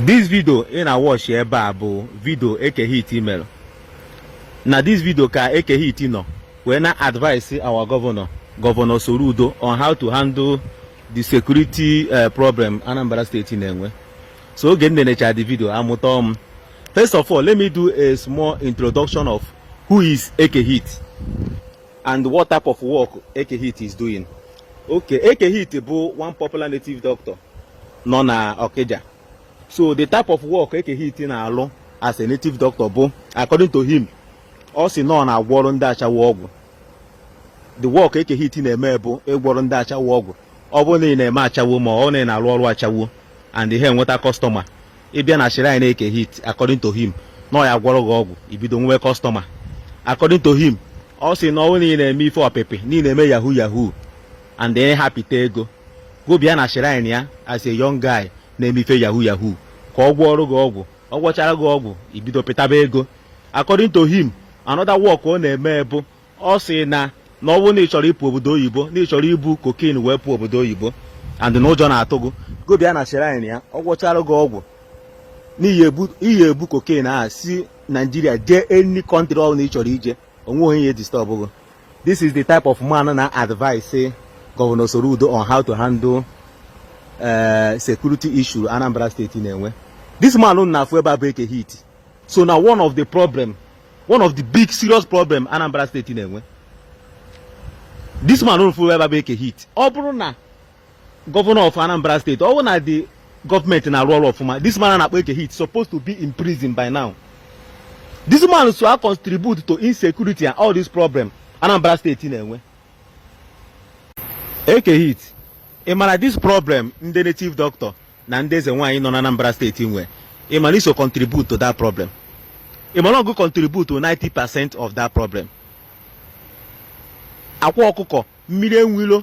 this video ị na-awọchi ebe a bụ video Eke Hit mere na this video ka Eke Hit nọ wee na-advise our governor governor Soludo on how to handle the security eh, problem Anambra steeti na-enwe so oge m nenecha the video amụta m first of all let me do a small introduction of who is Eke Hit and what type of work Eke Hit is doing okay Eke Hit bụ one popular native doctor nọ na Okija so the type of work Eke Hit na-alụ as a native doctor bụ according to him ọ sị na ọ na-agwọrọ ndị ashawo ọgwụ the work Eke Hit na-eme bụ ịgwọrọ ndị ashawo ọgwụ ọ bụrụ na ị na-eme ashawo ma ọ na ị na-alụ ọrụ ashawo and ị ha enweta customer ị bịa na shrine Eke Hit according to him na ọ ya-agwọrọ gị ọgwụ i bido nwewe customer according to him ọ sị na ọ bụrụ na ị na-eme ife ọpịpị na ị na-eme yahoo yahoo and ị ha apịta ego gụ bịa na shrine ya as a young guy na-eme ife yahoo yahoo ka ọ gwọọrụ gị ọgwụ ọ gwọchara gị ọgwụ i bido pịtaba ego according to him another work ọ na-eme bụ ọ sị na na ọ bụrụ na ị chọrọ ịpụ obodo oyibo na ị chọrọ ibu cocaine wee pụọ obodo oyibo and na ụjọ na-atụ gị gụ bịa na shrine ya ọ gwọchara gị ọgwụ na i ya-ebu cocaine si Naijiria jee any country ọ bụla ị chọrọ ije o nweghị onye ya-edistọbụ gị This is the type of man na-advise Governor Soludo on how to handle uh, security issue Anambra State na-enwe. This man unu na-afụ ebe a bụ Eke Hit so na one of the problem one of the big serious problem Anambra State na-enwe. This man unu fụ ebe a bụ Eke Hit ọ bụrụ na gọvanọ of Anambra steeti ọ bụ na the government na-arụ ọrụ ọfụma this man na-akpọ Eke Hit supposed to be in prison by now this man so acontribute to insecurity and all this problem Anambra steeti na-enwe Eke Hit ị mara this problem ndị native doctor na ndị eze nwaanyị nọ na Anambra steeti nwee ị mara i so contribute to that problem ị mara ọ gụ contribute to 90 percent of that problem Akwa Ọkụkọ Mmiri Enwe Ilo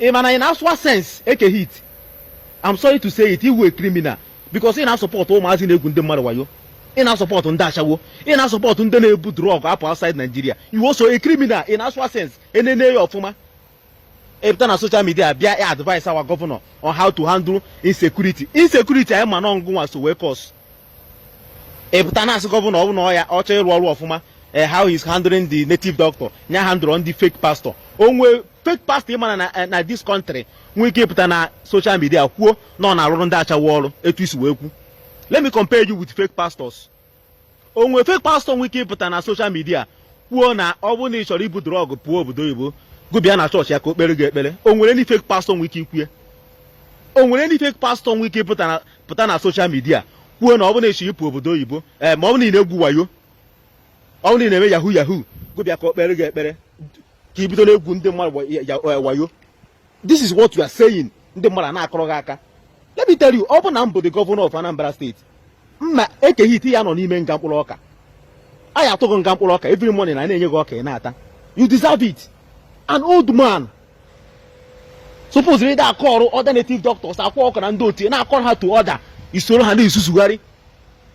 ị ma na ị na-asụwa sense Eke Hit I'm sorry to say it ị wụ a criminal because ị na-asọpọtụ ụmụazị na-egwu ndị mmadụ wayo ị na-asọpọtụ ndị ashawo ị na-asọpọtụ ndị na-ebu drug apụ outside Nigeria ị wụ also a criminal ị na-asụwa sense e nene ya ọfụma ị pụta na social media bịa advise our governor on how to handle insecurity insecurity anyị ma na ọ gụnwa so wee cause ị pụta na-asị gọvanọ ọ bụ na ọ ya-achọ ịrụ ọrụ ọfụma eh, how he's handling the native doctor nya handle ndị fake pastor o nwe fake pastor ị ma na na eh, na this country nwee ike ịpụta na social media kwuo na ọ na-arụrụ ndị ashawo ọrụ etu i si wee kwu let me compare you with fake pastors o nwe fake pastor nwee ike ịpụta na social media kwuo na ọ bụrụ na ị chọrọ ibu drug pụọ obodo oyibo gụ bịa na chọọchị ya ka o kpere gị ekpere o nwere ndị fake pastor nwee ike ikwu ya o nwere ndị fake pastor nwee ike ịpụta na pụta na social media kwuo na ọ bụrụ na ị chọ ịpụ obodo oyibo ee eh, ma ọ bụrụ na ị na-egwu wayo ọ bụrụ na ị na-eme yahoo yahoo gị bịa ka o kpere gị ekpere ka i bido na-egwu ndị mmadụ eh, wayo this is what you are saying ndị mmadụ a na-akụrụ gị aka let me tell you ọ bụ na m bụ the governor of Anambra State mma eke gị ite ya nọ n'ime nga mkpụrụ ọka a ya atụ gị nga mkpụrụ ọka every morning a na-enye gị ọka ị na-ata you deserve it an old man supoziri ịda acall other native doctors Akwa Ọkụkọ na ndị otu ya na-acall ha to order i soro ha na-ezuzugharị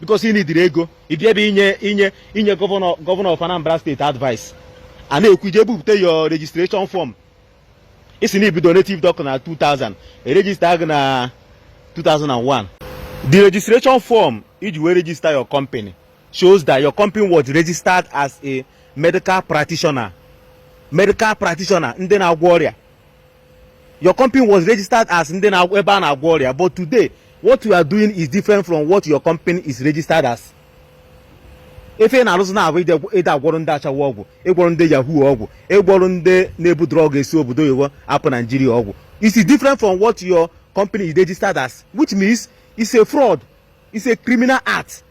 because ị nwedịrị ego ị bịa ebe inye inye inye governor governor of Anambra State advice a na-ekwu i jee bupụta your registration form ị sị na i bido native doctor na 2000 e register gị na 2001 the registration form i ji wee register your company shows that your company was registered as a medical practitioner medical practitioner ndị na-agwọ ọrịa your company was registered as ndị na ebe a na-agwọ ọrịa but today what you are doing is different from what your company is registered as ife ị na-arụzi now bụ ị da-agwọrọ ndị ashawo ọgwụ ị gwọrọ ndị yahoo ọgwụ ị gwọrọ ndị na-ebu drug esi obodo oyibo apụ Nigeria ọgwụ it is different from what your company is registered as which means it's a fraud It's a criminal act.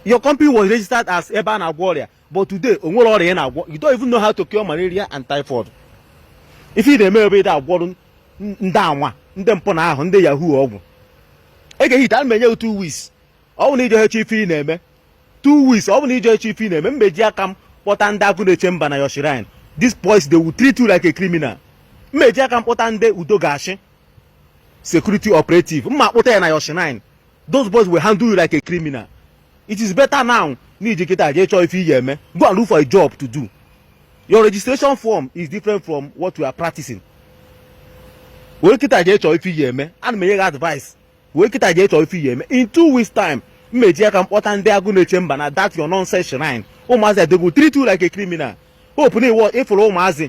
Your company was registered as ebe a na-agwọ ọrịa but today o nwere ọrịa ị na-agwọ you don't even know how to cure malaria and typhoid. Ife ị na-eme bụ ị na-agwọrụ ndị anwa ndị mpụ na arụ ndị yahoo ọgwụ. E ga-ehita m enye gị two weeks ọ bụ na ije eche ife ị na-eme two weeks ọ bụ na ije eche ife ị na-eme mma eji aka m kpọta ndị agụ na-eche mba na your shrine. These boys they will treat you like a criminal. Mma eji aka m kpọta ndị udo ga-achị security operative mma akpọta ya na your shrine those boys will handle you like a criminal it is better now na i ji kịta jee chọọ ife ị ga-eme go and look for a job to do your registration form is different from what you are practicing wee kịta jee chọọ ife ị ga-eme a na m enye gị advice wee kịta jee chọọ ife ị ga-eme in two weeks time mma eji aka m kpọta ndị agụ na-eche mba na that your nonsense shrine ụmụazị a they go treat you like a criminal hope na iwọ ị fụrụ ụmụazị